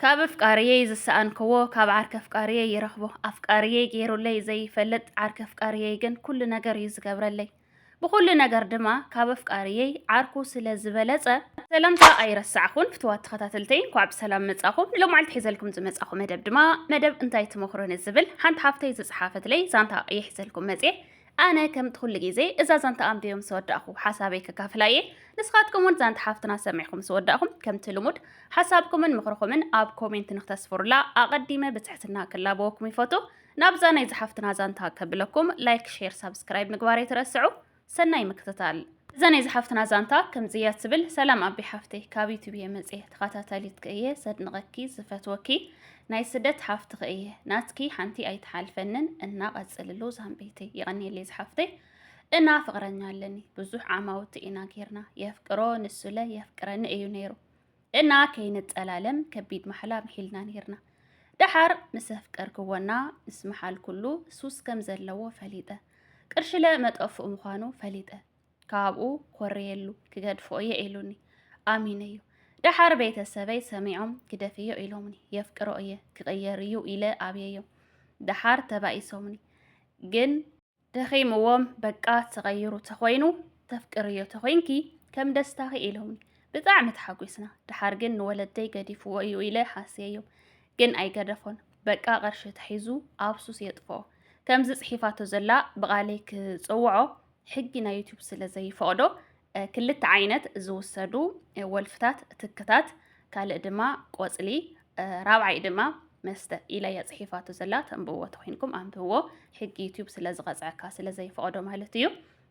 ካብ ኣፍቃርየይ ዝሰኣንክዎ ካብ ዓርኪ ኣፍቃርየይ ይረኽቦ። ኣፍቃርየይ ገይሩለይ ዘይፈልጥ ዓርኪ ኣፍቃርየይ ግን ኩሉ ነገር እዩ ዝገብረለይ። ብኹሉ ነገር ድማ ካብ ኣፍቃርየይ ዓርኩ ስለ ዝበለጸ ሰላምታ ኣይረሳዕኹን ፍትዋት ተኸታተልተይ እንኳዕ ብሰላም መጻኹም። ንሎማዓልቲ ሒዘልኩም ዝመጻኹ መደብ ድማ መደብ እንታይ ትመኽሩኒ ዝብል ሓንቲ ሓፍተይ ዝጸሓፈትለይ ዛንታ እየ ሒዘልኩም መጽየ። ኣነ ከምቲ ኩሉ ግዜ እዛ ዛንታ ኣንብየ ምስ ወዳእኹ ሓሳበይ ከካፍላ እየ። ንስኻትኩም እውን ዛንታ ሓፍትና ሰሚዕኩም ምስ ወዳእኹም ከምቲ ልሙድ ሓሳብኩምን ምኽርኹምን ኣብ ኮሜንት ንክተስፍሩላ ኣቐዲመ ብትሕትና ክላበወኩም ይፈቱ። ናብዛ ናይ ዝሓፍትና ዛንታ ከብለኩም ላይክ፣ ሼር፣ ሳብስክራይብ ምግባር ኣይትረስዑ። ሰናይ ምክትታል። እዛ ናይ ዝሓፍትና ዛንታ ከምዚ እያ ትብል። ሰላም ኣቢ ሓፍተይ ካብ ዩቱብ እየ መፅየ ተኸታታሊትኪ እየ ዘድንቐኪ ዝፈትወኪ ናይ ስደት ሓፍትኺ እየ ናትኪ ሓንቲ ኣይትሓልፈንን እና ቀፅልሉ ዛምቤተይ የቐኒየለይ ዝሓፍተይ እና ፍቕረኛ ኣለኒ ብዙሕ ዓማውቲ ኢና ጌርና የፍቅሮ ንሱለ የፍቅረኒ እዩ ነይሩ እና ከይንጠላለም ከቢድ ማሕላ ምሒልና ነርና ደሓር ምስ ኣፍቀርክዎና ምስ መሓልኩሉ ሱስ ከም ዘለዎ ፈሊጠ ቅርሽለ መጠፍኡ ምዃኑ ፈሊጠ ካብኡ ኮርየሉ ክገድፎ እየ ኢሉኒ ኣሚነዮ ደሓር ቤተሰበይ ሰሚዖም ግደፍዮ ኢሎምኒ የፍቅሮ እየ ክቕየር እዩ ኢለ ኣብየዮ ደሓር ተባኢሶምኒ ግን ደኺምዎም በቃ ተቐይሩ ተኾይኑ ተፍቅርዮ ተኾይንኪ ከም ደስታኺ ኢሎምኒ ብጣዕሚ ተሓጒስና ደሓር ግን ንወለደይ ገዲፍዎ እዩ ኢለ ሓስየዮ ግን ኣይገደፎን በቃ ቐርሺ ተሒዙ ኣብ ሱስ የጥፍኦ ከምዚ ጽሒፋቶ ዘላ ብቓለይ ክጽውዖ ሕጊ ናይ ዩቱብ ስለ ዘይፈቕዶ ክልተ ዓይነት ዝውሰዱ ወልፍታት ትክታት ካልእ ድማ ቆፅሊ ራብዓይ ድማ መስተ ኢላ እያ ፅሒፋቶ ዘላ ተንብዎ ተኮይንኩም ኣንብብዎ ሕጊ ዩትዩብ ስለ ዝቐፅዐካ ስለ ዘይፈቐዶ ማለት እዩ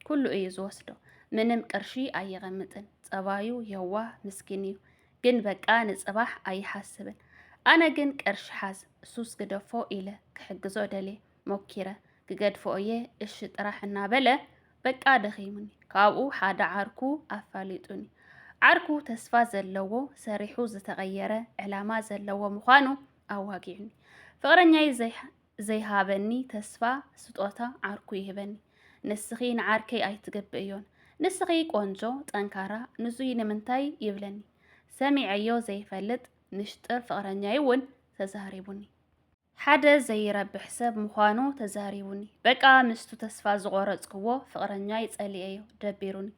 ኩሉ እዩ ዝወስዶ ምንም ቅርሺ ኣይቐምጥን ፀባዩ የዋህ ምስኪን እዩ ግን በቃ ንፅባሕ ኣይሓስብን ኣነ ግን ቅርሺ ሓዝ ሱስ ግደፎ ኢለ ክሕግዞ ደልየ ሞኪረ ክገድፎ እየ እሺ ጥራሕ እናበለ በቃ ደኺሙኒ ካብኡ ሓደ ዓርኩ ኣፋሊጡኒ ዓርኩ ተስፋ ዘለዎ ሰሪሑ ዝተቐየረ ዕላማ ዘለዎ ምዃኑ ኣዋጊዑኒ ፍቕረኛይ ዘይሃበኒ ተስፋ ስጦታ ዓርኩ ይህበኒ ንስኺ ንዓርከይ ኣይትገብእዮን ንስኺ ቆንጆ ጠንካራ ንዙይ ንምንታይ ይብለኒ ሰሚዐዮ ዘይፈልጥ ንሽጥር ፍቕረኛይ እውን ተዛሪቡኒ ሓደ ዘይረብሕ ሰብ ምዃኑ ተዛሪቡኒ። በቃ ምስቱ ተስፋ ዝቖረጽክዎ ፍቕረኛይ ጸሊኤዮ፣ ደቢሩኒ።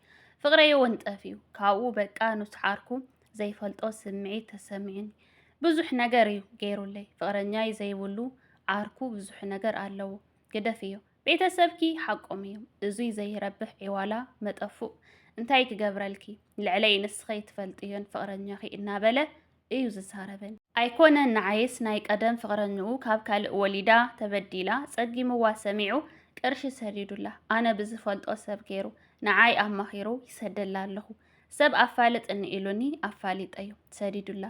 ፍቕረይ እውን ጠፊኡ። ካብኡ በቃ ኑስሓርኩ፣ ዘይፈልጦ ስምዒት ተሰሚዑኒ። ብዙሕ ነገር እዩ ገይሩለይ። ፍቕረኛይ ዘይብሉ ዓርኩ ብዙሕ ነገር ኣለዎ። ግደፍዮ። ቤተሰብኪ ሓቆም እዮም። እዙይ ዘይረብሕ ዒዋላ መጠፉእ እንታይ ክገብረልኪ፣ ልዕለይ ንስኸይ ትፈልጥዮን ፍቕረኛኺ እናበለ እዩ ዝዛረበኒ። ኣይኮነን ንዓይስ ናይ ቀደም ፍቕረኝኡ ካብ ካልእ ወሊዳ ተበዲላ ጸጊምዋ ሰሚዑ ቅርሺ ሰዲዱላ ኣነ ብዝፈልጦ ሰብ ገይሩ ንዓይ ኣማኺሩ ይሰደላ ኣለኹ ሰብ ኣፋልጥኒ ኢሉኒ ኣፋሊጠዮ ሰዲዱላ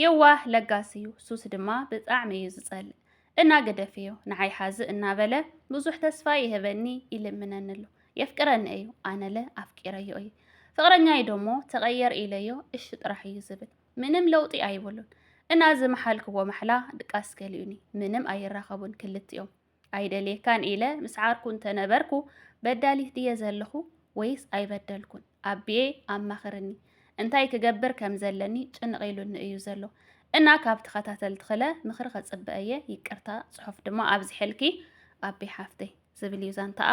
የዋህ ለጋስ እዩ ሱስ ድማ ብጣዕሚ እዩ ዝጸልእ እና ግደፍ እዩ ንዓይ ሓዚ እናበለ ብዙሕ ተስፋ ይህበኒ ይልምነኒ ኣሎ የፍቅረኒ እዩ ኣነለ ኣፍቂረዮ እዩ ፍቅረኛይ ደሞ ተቀየር ኢለዮ እሺ ጥራሕ እዩ ዝብል ምንም ለውጢ ኣይብሉን እና ዝመሓልክዎ ማሕላ ድቃስ ገሊኡኒ ምንም ኣይራኸቡን ክልቲኦም ኣይደልየካን ኢለ ምስ ዓርኩ እንተነበርኩ በዳሊት ድየ ዘለኹ ወይስ ኣይበደልኩን ኣቢየ ኣማኽርኒ እንታይ ክገብር ከም ዘለኒ ጭንቕ ኢሉኒ እዩ ዘሎ እና ካብ ተኸታተልትኽለ ምኽሪ ከጽበ እየ ይቅርታ ጽሑፍ ድማ ኣብዚሐልኪ ኣቢ ሓፍተይ ዝብል እዩ ዛንታኣ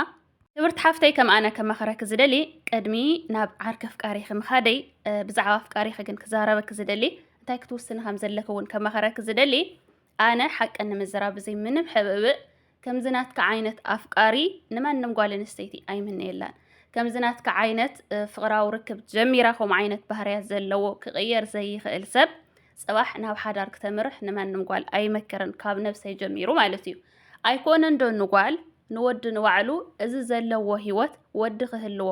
ክብርቲ ሓፍተይ ከም ኣነ ከማኽረኪ ዝደሊ ቅድሚ ናብ ዓርኪ ኣፍቃሪኺ ምኻደይ ብዛዕባ ኣፍቃሪኺ ግን ክዛረበኪ ዝደሊ እንታይ ክትውስኒ ከም ዘለኪ እውን ከማኽረኪ ዝደሊ ኣነ ሓቂ ንምዝራብ ብዘይ ምንም ሕብእብእ ከምዚ ናትካ ዓይነት ኣፍቃሪ ንማንም ጓል ኣንስተይቲ ኣይምነየላን። ከምዚ ናትካ ዓይነት ፍቕራዊ ርክብ ጀሚራ ከምኡ ዓይነት ባህርያት ዘለዎ ክቕየር ዘይኽእል ሰብ ጽባሕ ናብ ሓዳር ክተምርሕ ንማንም ጓል ኣይመክርን ካብ ነብሰይ ጀሚሩ ማለት እዩ ኣይኮነን ዶ ንጓል ንወዲ ንባዕሉ እዚ ዘለዎ ህይወት ወዲ ክህልዎ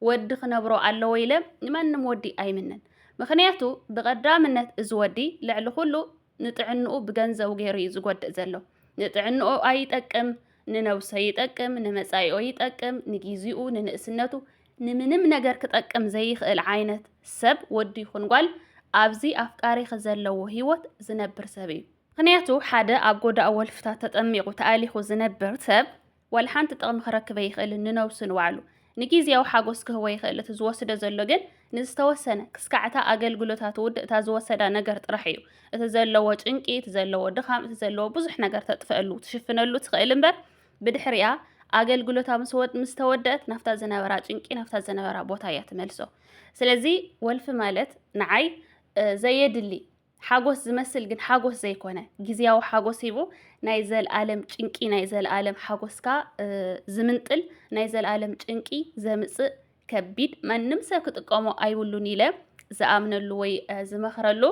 ወዲ ክነብሮ ኣለዎ ኢለ ንማንም ወዲ ኣይምንን ምክንያቱ ብቀዳምነት እዚ ወዲ ልዕሊ ኩሉ ንጥዕንኡ ብገንዘቡ ገይሩ እዩ ዝጎድእ ዘሎ። ንጥዕንኦ ኣይጠቅም፣ ንነብሶ ይጠቅም፣ ንመጻኢኦ ይጠቅም፣ ንጊዜኡ፣ ንንእስነቱ፣ ንምንም ነገር ክጠቅም ዘይኽእል ዓይነት ሰብ ወዲ ይኹን ጓል ኣብዚ ኣፍቃሪኺ ዘለዎ ህይወት ዝነብር ሰብ እዩ። ምክንያቱ ሓደ ኣብ ጎዳእ ወልፍታት ተጠሚቑ ተኣሊኹ ዝነብር ሰብ ዋላ ሓንቲ ጥቕሚ ክረክብ ኣይኽእልን ንነብሱ ንባዕሉ ንጊዝያዊ ሓጎስ ክህቦ ይኽእል እቲ ዝወስዶ ዘሎ ግን ንዝተወሰነ ክስካዕ እታ ኣገልግሎታ ትውድእ እታ ዝወሰዳ ነገር ጥራሕ እዩ እቲ ዘለዎ ጭንቂ እቲ ዘለዎ ድኻም እቲ ዘለዎ ብዙሕ ነገር ተጥፈእሉ ትሽፍነሉ ትኽእል እምበር ብድሕሪኣ ኣገልግሎታ ምስ ተወደእት ናብታ ዝነበራ ጭንቂ ናብታ ዝነበራ ቦታ እያ ትመልሶ። ስለዚ ወልፊ ማለት ንዓይ ዘየድሊ ሓጎስ ዝመስል ግን ሓጎስ ዘይኮነ ግዝያዊ ሓጎስ ሂቡ ናይ ዘልኣለም ጭንቂ ናይ ዘልኣለም ሓጎስካ ዝምንጥል ናይ ዘልኣለም ጭንቂ ዘምጽእ ከቢድ ማንም ሰብ ክጥቀሞ ኣይብሉን ኢለ ዝኣምነሉ ወይ ዝመኽረሉ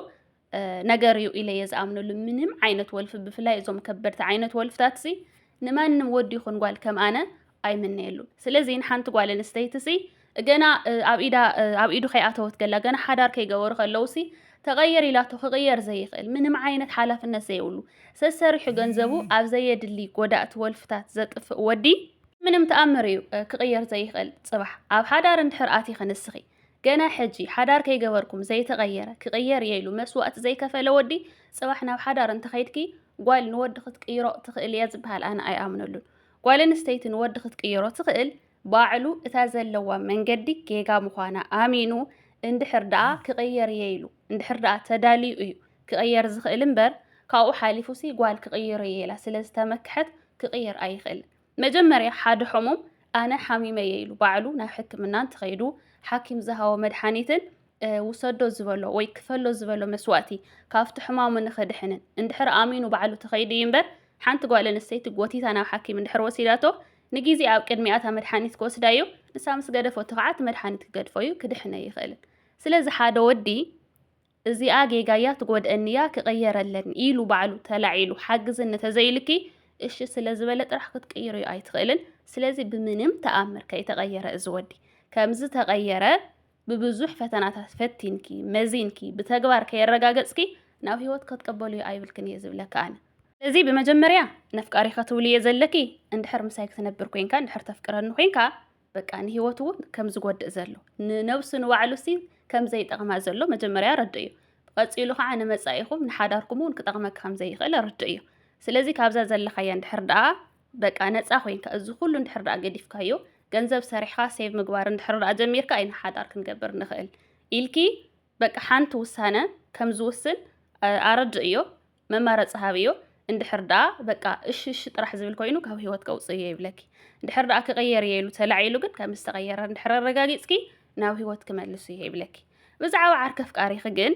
ነገር እዩ ኢለ እየ ዝኣምነሉ። ምንም ዓይነት ወልፊ ብፍላይ እዞም ከበድቲ ዓይነት ወልፍታት ሲ ንማንም ወዲ ይኹን ጓል ከም ኣነ ኣይምነየሉ ስለዚ ንሓንቲ ጓል ኣንስተይቲሲ ገና ኣብ ኢዳ ኣብ ኢዱ ከይኣተወት ገላ ገና ሓዳር ከይገበሩ ከለውሲ ተቐየር ኢላቶ ክቕየር ዘይኽእል ምንም ዓይነት ሓላፍነት ዘይብሉ ሰሰሪሑ ገንዘቡ ኣብ ዘየድሊ ጎዳእቲ ወልፍታት ዘጥፍእ ወዲ ምንም ተኣምር እዩ ክቕየር ዘይኽእል ጽባሕ ኣብ ሓዳር እንድሕር ኣቲ ክንስኺ ገና ሕጂ ሓዳር ከይገበርኩም ዘይተቐየረ ክቕየር እየ ኢሉ መስዋእቲ ዘይከፈለ ወዲ ጽባሕ ናብ ሓዳር እንተኸይድኪ ጓል ንወዲ ክትቅይሮ ትኽእል እያ ዝበሃል ኣነ ኣይኣምነሉን ጓል ኣንስተይቲ ንወዲ ክትቅይሮ ትኽእል ባዕሉ እታ ዘለዋ መንገዲ ጌጋ ምዃና ኣሚኑ እንድሕር ደኣ ክቕየር እየ ኢሉ እንድሕር ደኣ ተዳልዩ እዩ ክቕየር ዝኽእል እምበር ካብኡ ሓሊፉሲ ጓል ክቕይር እየ ኢላ ስለ ዝተመክሐት ክቕየር ኣይኽእልን። መጀመርያ ሓደ ሕሙም ኣነ ሓሚመ እየ ኢሉ ባዕሉ ናብ ሕክምና እንተኸይዱ ሓኪም ዝሃቦ መድሓኒትን ውሰዶ ዝበሎ ወይ ክፈሎ ዝበሎ መስዋእቲ ካብቲ ሕማሙ ንኽድሕንን እንድሕር ኣሚኑ ባዕሉ ተኸይዱ እዩ እምበር ሓንቲ ጓል ኣንስተይቲ ጎቲታ ናብ ሓኪም እንድሕር ወሲዳቶ ንግዜ ኣብ ቅድሚኣ እታ መድሓኒት ክወስዳ እዩ ንሳ ምስ ገደፈቶ ከዓ እቲ መድሓኒት ክገድፎ እዩ ክድሕነ ኣይኽእልን ስለዚ ሓደ ወዲ እዚኣ ጌጋያ ትጎድአኒያ ክቕየረለኒ ኢሉ ባዕሉ ተላዒሉ ሓግዝኒ ተዘይልኪ እሺ ስለ ዝበለ ጥራሕ ክትቅይርዮ ኣይትኽእልን ስለዚ ብምንም ተኣምር ከይተቐየረ እዚ ወዲ ከምዚ ተቐየረ ብብዙሕ ፈተናታት ፈቲንኪ መዚንኪ ብተግባር ከየረጋገጽኪ ናብ ህይወት ከትቀበልዮ ኣይብልክን እየ ዝብለኪ ኣነ። እዚ ብመጀመርያ ነፍቃሪ ከትብሊ እየ ዘለኪ እንድሕር ምሳይ ክትነብር ኮንካ እንድሕር ተፍቅረኒ ኮንካ በቃ ንህይወቱ ውን ከም ዝጎድእ ዘሎ ንነብሱ ንባዕሉ ሲ ከም ዘይጠቅማ ዘሎ መጀመርያ ኣረድእዮ ብቀጺሉ ከዓ ንመጻኢኩም ንሓዳርኩም ውን ክጠቅመኪ ከም ዘይክእል ኣረድእዮ ስለዚ ካብዛ ዘለካያ እንድሕር ደኣ በቃ ነጻ ኮይንካ እዚ ኩሉ እንድሕር ደኣ ገዲፍካዮ ገንዘብ ሰሪሕካ ሴቭ ምግባር እንድሕር ደኣ ጀሚርካ ኢና ሓዳር ክንገብር ንኽእል ኢልኪ በቃ ሓንቲ ውሳነ ከም ዝውስን ኣረድእዮ መማረፂ ሃብዮ እንድሕር ደኣ በቃ እሺ እሺ ጥራሕ ዝብል ኮይኑ ካብ ህይወት ከውፅእዮ ይብለኪ እንድሕር ደኣ ክቕየር እየ ኢሉ ተላዒሉ ግን ከም ዝተቐየረ እንድሕር ኣረጋጊፅኪ ናብ ህይወት ክመልስ እየ ይብለኪ ብዛዕባ ዓርከ ፍቃሪኺ ግን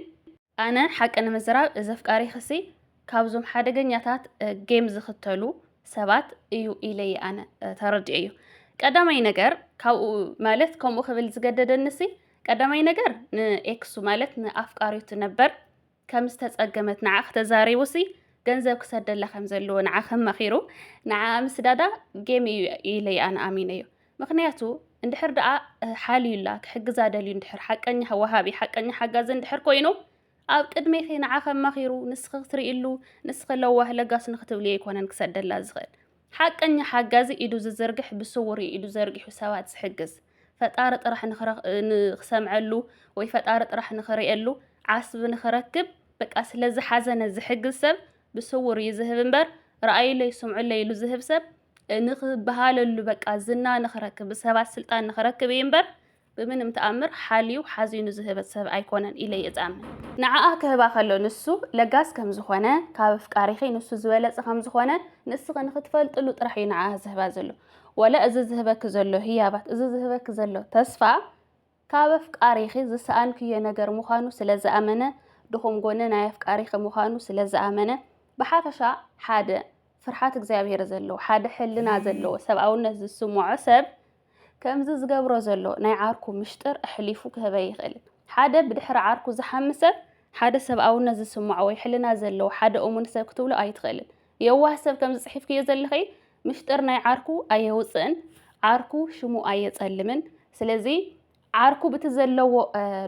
ኣነ ሓቂ ንምዝራብ እዚ ኣፍቃሪ ክሲ ካብዞም ሓደገኛታት ጌም ዝክተሉ ሰባት እዩ ኢለየ ኣነ ተረዲኦ እዩ ቀዳማይ ነገር ካብኡ ማለት ከምኡ ክብል ዝገደደንሲ ቀዳማይ ነገር ንኤክሱ ማለት ንኣፍቃሪቱ ነበር ከም ዝተጸገመት ንዓ ክተዛሪቡሲ ገንዘብ ክሰደላ ከም ዘለዎ ንዓ ከማኺሩ ንዓ ምስዳዳ ጌም እዩ ኢለየ ኣነ ኣሚነ እዩ ምኽንያቱ እንድሕር ደኣ ሓልዩላ ክሕግዛ ደልዩ እንድሕር ሓቀኛ ወሃቢ ሓቀኛ ሓጋዚ እንድሕር ኮይኑ ኣብ ቅድሜኺ ንዓኺ ኣማኺሩ ንስኺ ክትርእይሉ ንስኺ ለዋህ ለጋስ ንክትብልዮ ኣይኮነን ክሰደላ ዝኽእል ሓቀኛ ሓጋዚ ኢዱ ዝዝርግሕ ብስውር እዩ ኢዱ ዘርጊሑ ሰባት ዝሕግዝ ፈጣሪ ጥራሕ ንክሰምዐሉ ወይ ፈጣሪ ጥራሕ ንክርእየሉ ዓስቢ ንክረክብ በቃ ስለዝሓዘነ ዝሕግዝ ሰብ ብስውር እዩ ዝህብ እምበር ረኣዩለይ ስምዑለይ ኢሉ ዝህብ ሰብ ንኽበሃለሉ በቃ ዝና ንኽረክብ ብሰባት ስልጣን ንኽረክብ እዩ እምበር ብምንም ተኣምር ሓልዩ ሓዚኑ ዝህበት ሰብ ኣይኮነን ኢለ እየ ዝኣምን። ንዓኣ ክህባ ከሎ ንሱ ለጋስ ከም ዝኾነ፣ ካብ ኣፍቃሪኺ ንሱ ዝበለጸ ከም ዝኾነ ንስኺ ንኽትፈልጥሉ ጥራሕ እዩ ንዓኣ ዝህባ ዘሎ። ዋላ እዚ ዝህበኪ ዘሎ ህያባት፣ እዚ ዝህበኪ ዘሎ ተስፋ፣ ካብ ኣፍቃሪኺ ዝሰኣንክዮ ነገር ምዃኑ ስለ ዝኣመነ፣ ድኹም ጎኒ ናይ ኣፍቃሪኺ ምዃኑ ስለ ዝኣመነ፣ ብሓፈሻ ሓደ ፍርሓት እግዚኣብሔር ዘለዎ፣ ሓደ ሕልና ዘለዎ፣ ሰብኣውነት ዝስምዖ ሰብ ከምዚ ዝገብሮ ዘሎ ናይ ዓርኩ ምሽጥር ኣሕሊፉ ክህብ ኣይኽእልን። ሓደ ብድሕሪ ዓርኩ ዝሓሚ ሰብ ሓደ ሰብኣውነት ዝስምዖ ወይ ሕልና ዘለዎ ሓደ እሙን ሰብ ክትብሎ ኣይትኽእልን። የዋህ ሰብ ከምዚ ጽሒፍክዮ ዘለኺ ምሽጥር ናይ ዓርኩ ኣየውፅእን ዓርኩ ሽሙ ኣየፀልምን ስለዚ ዓርኩ ብቲ ዘለዎ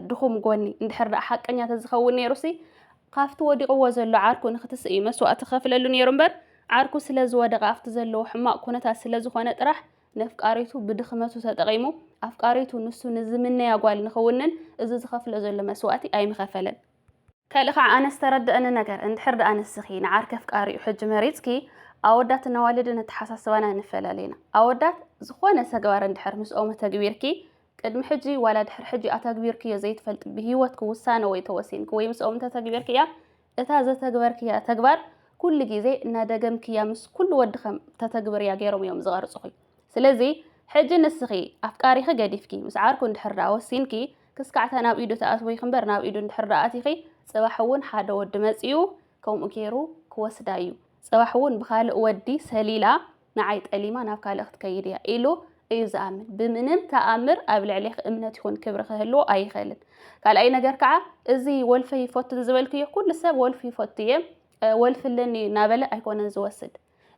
ድኹም ጎኒ እንድሕር ደኣ ሓቀኛ ተዝኸውን ነይሩ ሲ ካብቲ ወዲቕዎ ዘሎ ዓርኩ ንክትስእ እዩ መስዋእቲ ከፍለሉ ነይሩ እምበር ዓርኩ ስለ ዝወደቐ ኣብቲ ዘለዎ ሕማቕ ኩነታት ስለ ዝኾነ ጥራሕ ነፍቃሪቱ ብድኽመቱ ተጠቒሙ ኣፍቃሪቱ ንሱ ንዝምነያ ጓል ንክውንን እዚ ዝኸፍሎ ዘሎ መስዋእቲ ኣይምኸፈለን። ከልእ ካዓ ኣነ ዝተረደኣኒ ነገር እንድሕር ዳኣ ንስኪ ንዓርከ ኣፍቃሪ እዩ ሕጂ መሪፅኪ ኣወዳትን ኣዋልድን ኣተሓሳስባና ኣይንፈላለይ ኢና ኣወዳት ዝኮነ ተግባር እንድሕር ምስኦም ኣተግቢርኪ ቅድሚ ሕጂ ዋላ ድሕሪ ሕጂ ኣተግቢርክዮ ዘይትፈልጢ ብሂወትኪ ውሳነ ወይ ተወሲንኪ ወይ ምስኦም እንተተግቢርክያ እታ ዘተግበርክያ ተግባር ኩሉ ግዜ እናደገምክያ ምስ ኩሉ ወዲ ከም ተተግብርያ ገይሮም እዮም ዝቀርፅኪ ስለዚ ሕጂ ንስኪ ኣፍቃሪኪ ገዲፍኪ ምስ ዓርኩ እንድሕር ዳኣ ወሲንኪ ክስካዕ እታ ናብ ኢዱ ትኣትወኪ እምበር ናብ ኢዱ እንድሕር ደኣ ኣቲኪ ጽባሕ ውን ሓደ ወዲ መጺኡ ከምኡ ጌሩ ክወስዳ እዩ ጽባሕ ውን ብካልእ ወዲ ሰሊላ ንዓይ ጠሊማ ናብ ካልእ ክትከይድ እያ ኢሉ እዩ ዝኣምን ብምንም ተኣምር ኣብ ልዕሌኪ እምነት ይኩን ክብሪ ክህልዎ ኣይክእልን ካልኣይ ነገር ከዓ እዚ ወልፈ ይፈቱን ዝበልክዮ ኩሉ ሰብ ወልፊ ይፈቱ እየ ወልፊ ኣለኒ እናበለ ኣይኮነን ዝወስድ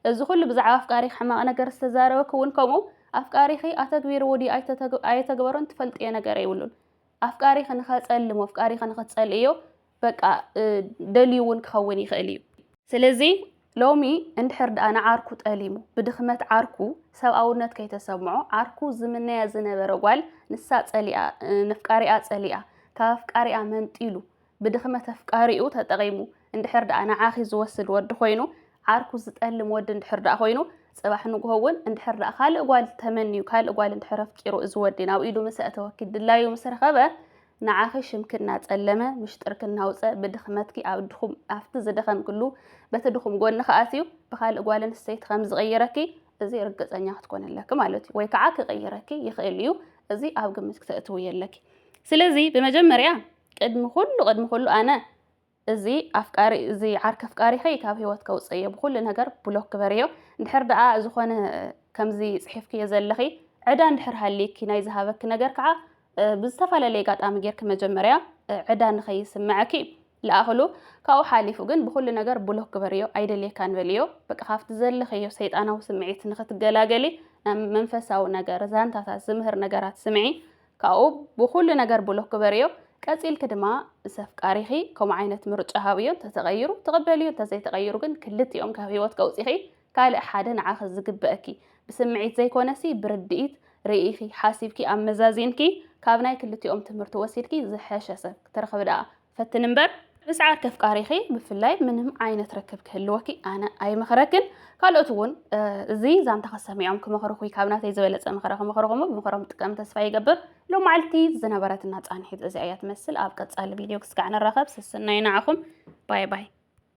እዚ ኩሉ ብዛዕባ ኣፍቃሪኺ ሕማቕ ነገር ዝተዛረበኪ እውን ከምኡ ኣፍቃሪኺ ኣተግቢርዎ ድዩ ኣየተግበሮን ትፈልጥዮ ነገር የብሉን። ኣፍቃሪኺ ንኸጸልም ኣፍቃሪኺ ንኽትጸልእዮ በቃ ደልዩ እውን ክኸውን ይኽእል እዩ። ስለዚ ሎሚ እንድሕር ደኣ ንዓርኩ ጠሊሙ ብድኽመት ዓርኩ ሰብኣውነት ከይተሰምዖ ዓርኩ ዝምነያ ዝነበረ ጓል ንሳ ጸሊኣ ነፍቃሪኣ ጸሊኣ ካብ ኣፍቃሪኣ መንጢሉ ብድኽመት ኣፍቃሪኡ ተጠቒሙ እንድሕር ደኣ ንዓኺ ዝወስድ ወዲ ኮይኑ፣ ዓርኩ ዝጠልም ወዲ እንድሕር ደኣ ኮይኑ፣ ጽባሕ ንግሆ ውን እንድሕር ደኣ ካልእ ጓል ተመንዩ ካልእ ጓል እንድሕር ኣፍቂሩ እዚ ወዲ ናብ ኢዱ ምስ ኣእተወኪ ድላዩ ምስ ረኸበ ንዓኺ ሽምኪ እናጸለመ ምሽጥርኪ እናውጸ ብድኽመትኪ ኣብ ድኹም ኣብቲ ዝደኸምክሉ በቲ ድኹም ጎንኺ ኣትዩ ብካልእ ጓል ኣንስተይቲ ከም ዝቕይረኪ እዚ ርግጸኛ ክትኮኒ ኣለኪ ማለት እዩ ወይ ከዓ ክቕይረኪ ይኽእል እዩ እዚ ኣብ ግምት ክተእትውዮ ኣለኪ ስለዚ ብመጀመርያ ቅድሚ ኩሉ ቅድሚ ኩሉ ኣነ እዚ ኣፍቃሪ እዚ ዓርኪ ኣፍቃሪኺ ካብ ሂወት ከውጽእዮ ብኩሉ ነገር ብሎክ ግበርዮ እንድሕር ደኣ ዝኾነ ከምዚ ጽሒፍክዮ ዘለኺ ዕዳ እንድሕር ሃልይኪ ናይ ዝሃበኪ ነገር ከኣ ብዝተፈላለየ ኣጋጣሚ ጌርኪ መጀመርያ ዕዳ ንኸይስመዐኪ ለኣኽሉ ካብኡ ሓሊፉ ግን ብኩሉ ነገር ብሎክ ግበርዮ ኣይደልየካን በልዮ በቃ ካብቲ ዘለኽዮ ሰይጣናዊ ስምዒት ንኽትገላገሊ ናብ መንፈሳዊ ነገር ዛንታታት ዝምህር ነገራት ስምዒ ካብኡ ብኹሉ ነገር ብሎክ ግበርዮ፣ ቀጺልኪ ድማ ምስ ኣፍቃሪኺ ከምኡ ዓይነት ምርጫ ሃብዮ እንተተቐይሩ ትቕበልዮ እንተዘይተቐይሩ ግን ክልቲኦም ካብ ሂወት ከውጺኺ ካልእ ሓደ ንዓኺ ዝግበእኪ ብስምዒት ዘይኮነሲ ብርድኢት ርኢኺ ሓሲብኪ ኣመዛዚንኪ ካብ ናይ ክልቲኦም ትምህርቲ ወሲድኪ ዝሐሸ ሰብ ክትረኽቢ ደኣ ፈትኒ እምበር ምስ ዓርኪ ኣፍቃሪኺ ብፍላይ ምንም ዓይነት ርክብ ክህልወኪ ኣነ ኣይመኽረክን። ካልኦት እውን እዚ ዛንታ ክሰሚዖም ክመኽርኹ ካብ ናተይ ዝበለፀ ምኽረ ክመኽርኹም ብምኽሮም ጥቀም ተስፋ ይገብር። ሎማዓልቲ ዝነበረትና ፃንሒት እዚኣ እያ ትመስል። ኣብ ቀፃሊ ቪድዮ ክስጋዕ ንራኸብ። ስስናይ ንዓኹም ባይ ባይ።